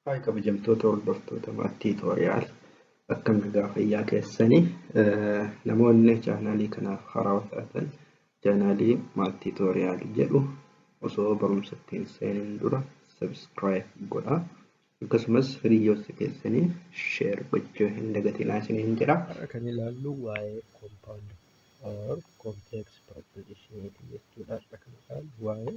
Haay kabajamtoota hordoftoota maat tiitoriyaal akkam nagaa fayyaa keessanii namoonni chaanaalii kanaaf haaraa taatan chaanaalii maat tiitoriyaal jedhu osoo barumsa ittiin seenuun dura sabiskiraayib godhaa akkasumas hiriyoota keessanii sheer gochuu hin dagatinaa isiniin jedha. Kan ilaallu waa'ee compound or complex proposition jechuudha. Kan ilaallu waa'ee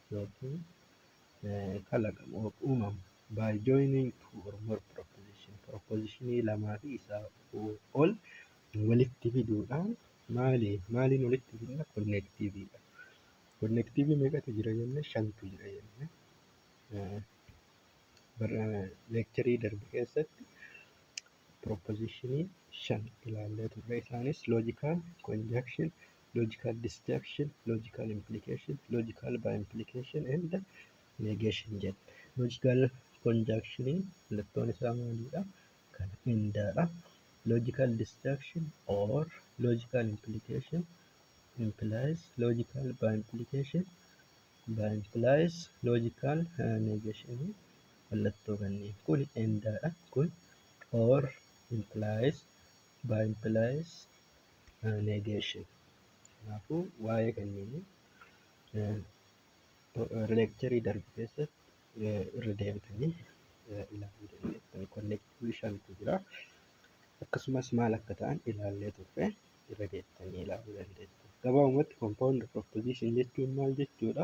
yookiin kalaqamu or uumamu by joining two or more proposition propositionii lamaa fi isaa ol walitti fiduudhaan maali maaliin walitti fidna konnektiiviidha. Konnektiivii meeqatu jira jenne shantu jira jenne. Leekcharii darbe keessatti proposition shan ilaallee turre isaanis logical conjunction logical disjunction logical implication logical by implication and negation jedha logical conjunction mallattoon isaa maalidha kan indaadha logical disjunction or logical implication implies logical by implication by implies logical uh, negation mallattoo kanneen kun and dha kun or implies by implies uh, negation kanaafuu waa'ee kanneenii leekcharii darbe keessatti irra deebitanii ilaaluu dandeessan konnektiivii shantu jira akkasumas maal akka ta'an ilaallee turre irra deebitanii ilaaluu dandeessan gabaabumatti compound proposition jechuun maal jechuudha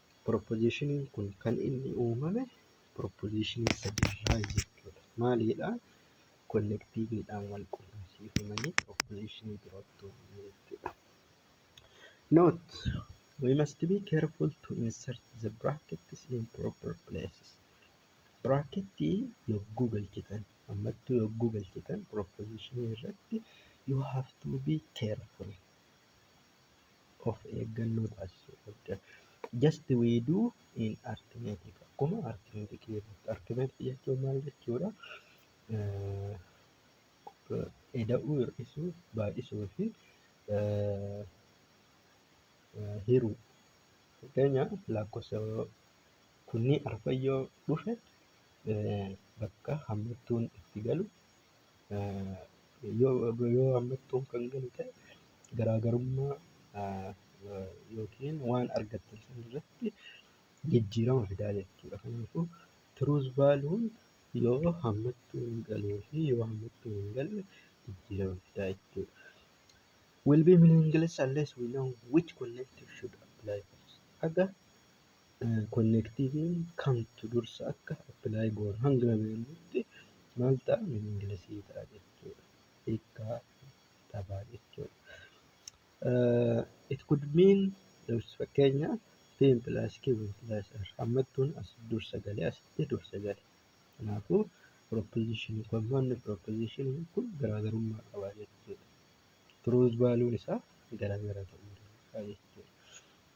Pirooppoziishiniin kun kan inni uumame pirooppoziishinii sadiirraa jechuudha. Maalidha? Konnektiiviidhaan wal qunnamsiifamanii pirooppoziishinii birootti uumamu jechuudha. Note, we must be careful to insert the brackets in proper places. Biraakettii yogguu galchitan, ammattuu yogguu galchitan pirooppoziishinii irratti you have to be careful. of eeggannoo taasisuu qabda. Just we do in arithmetic akkuma arithmetic keessatti arithmetic jechuun maal jechuudha? Eda'uu, hir'isuu, baay'isuu fi hiruu. Fakkeenyaaf lakkoofsa kunniin arfan yoo dhufe bakka hammattuun itti galu. yoo hammattoon kan galu ta'e garaagarummaa yookiin waan argattan sana irratti jijjiirama fidaa jechuudha. Kanaafuu tiruus vaaluun yoo hammattoon galuu fi yoo hammattoon hin galle jijjiirama fidaa jechuudha. Will be meaningless unless we know which collective should apply first. Haga Konnektiiviin kamtu dursa akka apply goonu hanga beeknutti maal ta'a meaning lesii ta'a jechuudha. Hiikkaa dhabaa jechuudha. It could mean fakkeenya P plus Q plus R hammattuun as dursa galee asitti dursa gale. Kanaafuu proposition kun manni proposition kun garaagarummaa qaba jechuudha. Truth value'n isaa garaagara ta'uu danda'a jechuudha.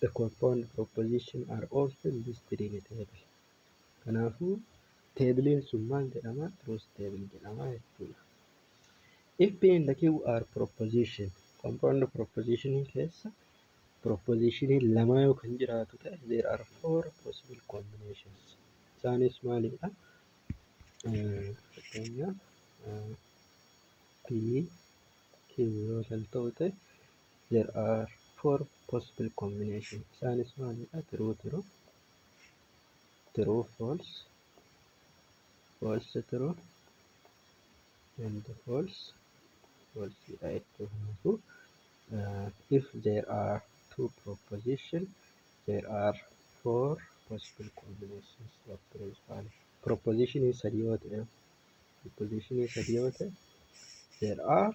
The compound proposition are also listed in a table. Kanaafuu teebiliin sun maal jedhama? Truth table jedhama jechuudha. If P and Q are proposition, compound proposition keessa proposition lama yoo kan jiraatu ta'e there are four possible combinations. Isaanis maalidha? Eh, Fakkeenyaaf eh, P, Q yoo kan ta'u ta'e there are four possible combination isaanis maalidha true true true false false true and false false dha jechuun kanaafuu uh, if there are two proposition there are four possible combinations of principal proposition sadii yoo ta'e proposition sadii yoo ta'e there are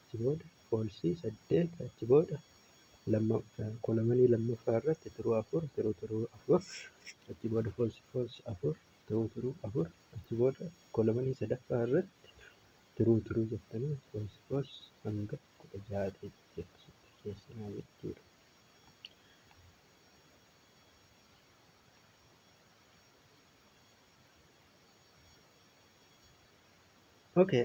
achi booda false 8 achi booda lamma kolomanii lammaffaa irratti tiruu 4 tiruu tiruu 4 achi booda false false 4 tiruu tiruu 4 achi booda kolomanii sadaffaa irratti tiruu tiruu jettanii false false hanga 16 ta'etti akkasitti keessanaa jechuudha. Okay,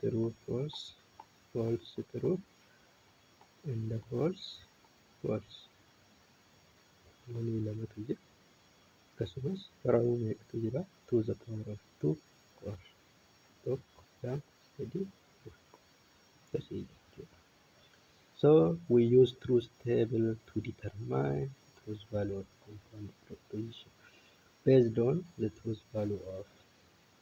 true false false true and false false waliin lamatu jira akkasumas raawuu meeqatu jira to the power of two or tokko lama sadii afur akkasii jechuudha so we use truth table to determine truth value of compound proposition based on the truth value of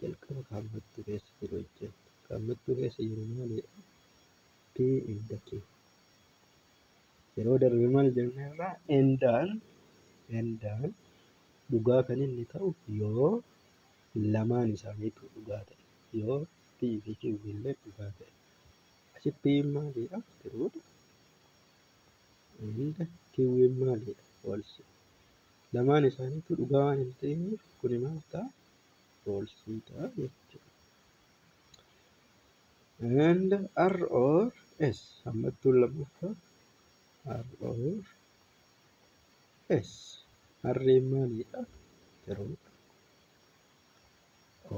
Jalqaba kaammattuu keessa jiru hojjenna. Kaammattuu keessa jiru maalidha? P inda Q. Yeroo darbe maal jennee irraa endaan endaan dhugaa kan inni ta'u yoo lamaan isaaniitu dhugaa ta'e yoo P fi Q illee dhugaa ta'e. Asi P maalidha? Tiruudha. Inda Q maalidha? Falsi. Lamaan isaaniitu dhugaa waan hin ta'iniif kuni maal ta'a? falsiidha jechuudha. And R or S hammattuun lammaffaa R or S harreen maalidha? Tiruudha.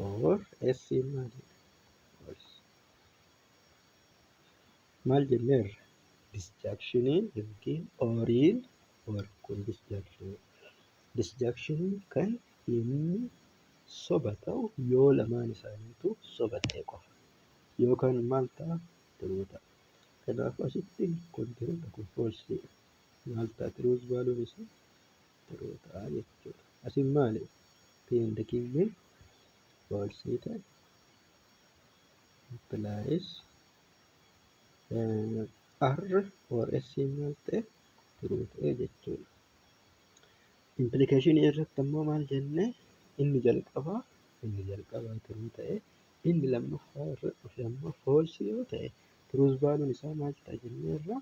Or S maalidha? False. Maal jenneerra? Disjaankshiniin yookiin ooriin or kun disjaankshiniidha. disjunction kan inni soba ta'u yoo lamaan isaaniitu soba ta'e qofa yookaan maal ta'a tiruu ta'a kanaaf asitti kontiroota kun foolsiidha maal ta'a tiruus baaluun isaa tiruu ta'a jechuudha asin maali piindi kiyyeen foolsii ta'e implies r or s maal ta'e tiruu ta'e jechuudha Impilikashinii irratti ammoo maal jennee inni jalqabaa inni jalqabaa turuu ta'e inni lammaffaa irra dhufe ammoo foolsii yoo ta'e turuus baaluun isaa maal ta'a jennee irra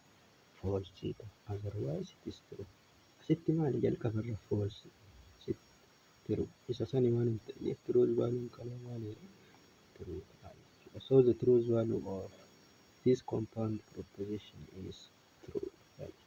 foolsii ta'a azarwaayis itis turu asitti maali jalqaba irra foolsii tiru isa sani waan hin ta'eef turuus baaluun kanaa maali irra turuu ta'a jechuudha so the truth value of this compound proposition is true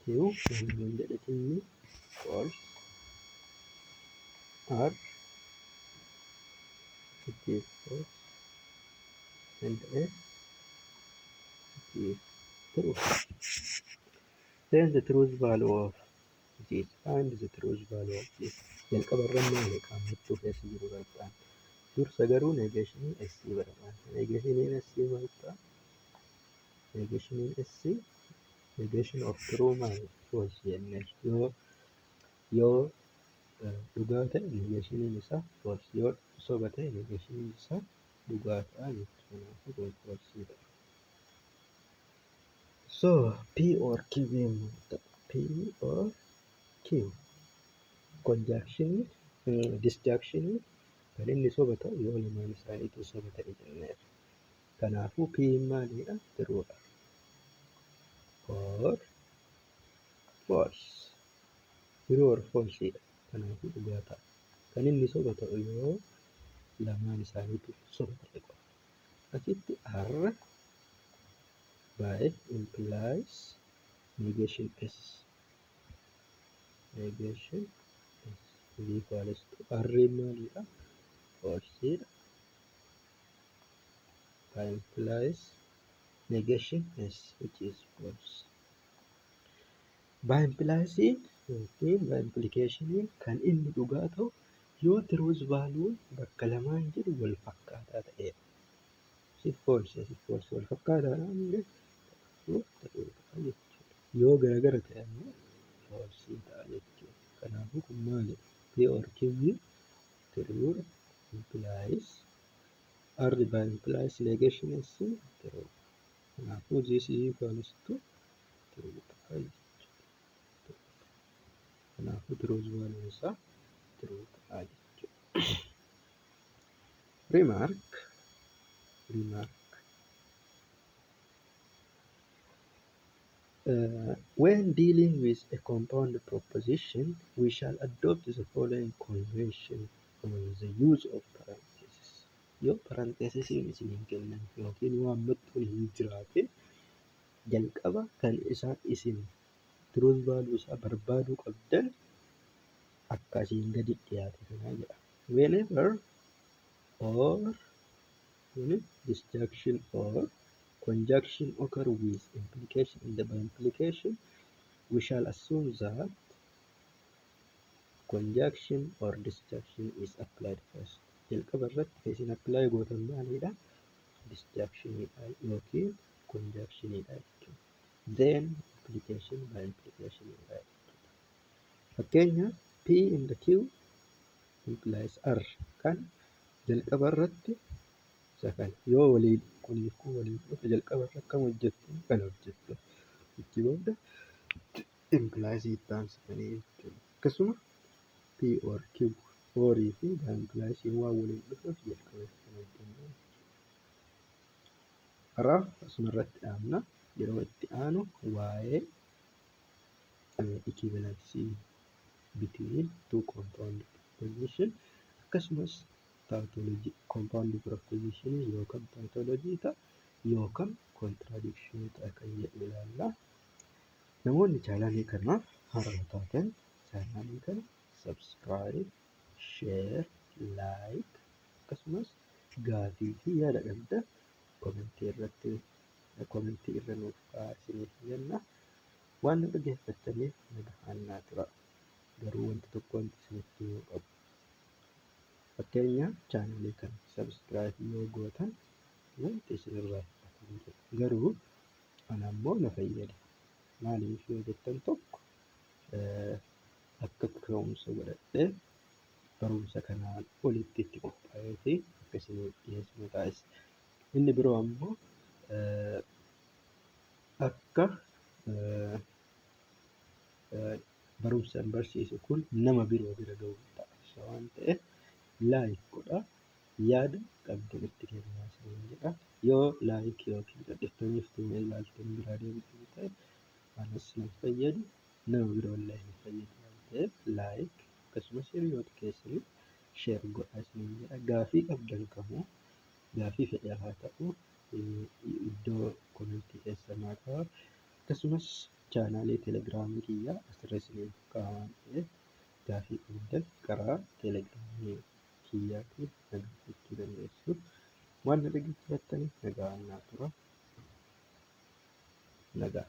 Q waliin jedhatinni ol R positive force and S is true. Then the truth value of this and the truth value of this. Jalqaba irra maali qaamachuu keessa jiru barbaadna. Dursa garuu neegeeshinii S barbaadna. Neegeeshiniin S maal ta'a? Negation SC, negation of true man was jenne yoo yoo eh, dhugaa ta'e negationiin isaa was yoo soba ta'e negationiin isaa dhugaa ta'a jechuudha. Kanaafuu kontiroolsii ta'a. So P or Q yommuu ta'u P or Q conjunction disjunction kan inni soba ta'u yoo lamaan isaaniitu soba ta'e jenneera. Kanaafuu P maalidha? True dha. Or false. True or false dha. Kanaafuu dhugaa ta'a. Kan inni soba ta'u yoo lamaan isaaniitu soba ta'e qofa. Asitti R by implies negation S. Negation S is equals to R maalidha? False dha. by implies negation yes it is false by implies yookiin by implication kan inni dhugaa ta'u yoo tiruus vaaluu bakka lamaan jiru wal fakkaataa ta'e si false si false wal fakkaataa yoo garagara ta'e ammoo false ta'a jechuudha kanaafuu kun maali p or q True implies R by implies negation S true. Kanaafuu this is equals to true ta'a jechuudha. Kanaafuu truth value isaa true ta'a jechuudha. Remark remark When dealing with a compound proposition, we shall adopt the following convention on the use of parentheses. Yoo parenthesesiin isiniin kennan yookiin yoo hammattuun hin jiraatin jalqaba kan isaa isin truth value isaa barbaaduu qabdan akka asiin gadi dhiyaate kanaa jedha. Whenever or Kuni disjunction or conjunction occur with implication and by implication we shall assume that conjunction or disjunction is applied first. Jalqaba irratti kan isin apply gootan maalidha? Disjunction dha yookiin conjunction dha jechuudha. Then implication by implication dha jechuudha. Fakkeenya P and Q implies R kan Jalqaba irratti isa kana yoo waliin kuniif kun waliin dhufe jalqaba irra akkam hojjettu kan hojjettu itti booda impilaayisii itti aansitanii jechuudha. Akkasuma P or Q horii fi impilaayisiin waan waliin dhufeef jalqaba irratti kan hojjennu karaa asuma irratti dhaabna yeroo itti aanu waa'ee ikiivaalansii between two compound proposition akkasumas tautology compound proposition yookaan tautology ta'a yookaan contradiction ta'a kan jedhu ilaalla. Namoonni chaanaalii kanaaf haaraa taatan chaanaalii kana subscribe, share, like akkasumas gaafii fi yaada qabda komentii irratti komentii irra nuuf kaa'aa isiniif jenna. Waan na dhaggeeffattaniif nagahaan naa turaa. Garuu wanti tokko wanti isinitti himuu qabu. Fakkeenyaaf chaanalii kana subscribe yoo gootan wanti isinirraa hir'atu hin jiru. Garuu ana immoo na fayyada. Maaliif yoo jettan tokko eh, akka ka'umsa godhadhee barumsa kanaan olitti itti qophaa'ee fi akka isiniif dhiyeessu na taasisa. Inni biroo ammoo eh, akka barumsan barsiisu kun nama biroo bira ga'u taasisa waan ta'eef laayik godha yaada qabdan itti kennaa isiniin jedha yoo laayik yookiin dhadhiftanii fituma ilaaltan biraa deebitan ta'e anas hin fayyadu nama biroo illee hin fayyadu waan ta'eef laayik akkasumas hiriyoota keessaniif sheer godhaa isiniin jedha gaafii qabdan kamuu gaafii fedhaa haa ta'u iddoo komentii keessa naa ka'a akkasumas chaanaalee telegiraamii kiyya asirra isiniif ka'a waan ta'eef gaafii qabdan karaa telegiraamii kiyyaatiin na gaafachuu dandeessu waan na dhaggeeffattaniif nagaan naa tura nagaa.